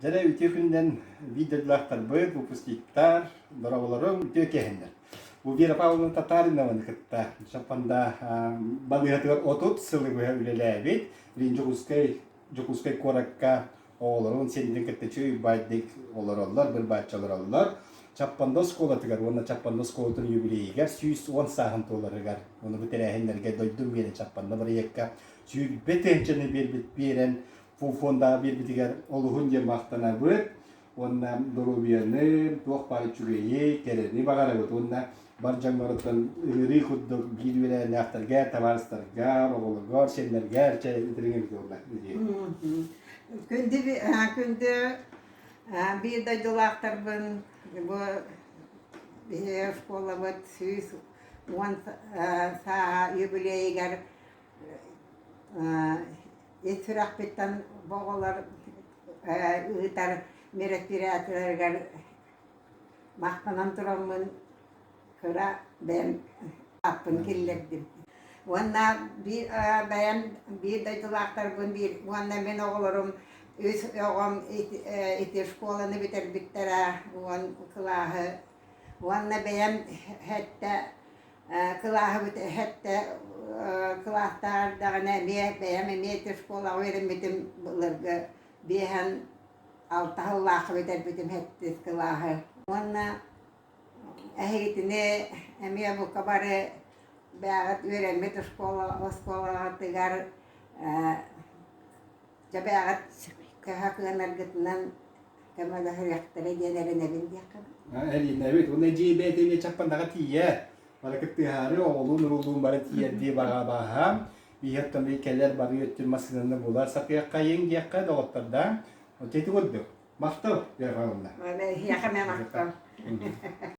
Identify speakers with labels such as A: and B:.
A: Дьэ, үтүө күнүнэн видеолаахтарбыт, выпускниктар, дороҕолорум үтүө киэһэннэр. Вера Павловна Татаринованы кытта Чапанда балыыһатыгар отут сылы быһа үлэлээбит Лин Дьокуускай, Дьокуускай куоракка оҕолорун сиэннэрин кытта чүй баайдык олороллор, бір бааччы олороллор. Чаппанда оскуолатыгар уонна Чаппанда оскуолатын юбилейыгар сүүс уон сааһын туоларыгар, оны бу тэрээһиннэргэ дойдум биэрэн Чаппанда бырайыакка сүүрбэ тыһыынчаны биэрбит биэрэн, фондаҕа биэрбитигэр олуһун диэн махтанабыт уонна доруобуйаны туох баар үчүгэйи кэрэни баҕарабыт уонна бар дьоҥҥоруттан ыарыы курдук биир үөрээннээхтэргэ табаарыстарга оҕолоргор сиэннэргэр дириҥэбит буолла күндү
B: күндү биир дойдулаахтарбын бу биһи оскуолабыт сүүс уон сааһа юбилейыгар ит сүрэхпиттэн оҕолор ыытар мероприятиеларыгар махтанан тураммын кыра бэйэм аппын киллэрдим уонна биир бэйэм биир дойдулаахтарбын биир уонна мин оҕолорум үс оҕом ити школаны бүтэрбиттэрэ уон кылааһы Уонна бэйэм эһэтте, кылааһыбыт эһэтте кылааттаах эрдэҕинэ эмиэ бэйэм эмиэ ити оскуолаҕа үөрэммитим былыргы биэһэн алта сыллаахха бүтэрбитим сэттис кылааһы. Уонна эһигитини эмиэ бука бары бээҕит үөрэммит оскуола оскуолаҕытыгар дьэбээҕит төһө кыанаргытынан көмөлөһүөхтэрэ диэн эрэнэбин
A: диэххэ эринэбит уонна дьиэбээтин чаппаннаҕа тиийэ бары кыттыһаары оҕолуун уруулуун бары тиийэрдии баҕа бааһаам биһиэттэмри кэлэр бары өттүр массыынаны булар сатыаххайын диэххэ доҕоттордоох ити курдук
B: махтал
A: бергалынна эһиэхэ мэ махтал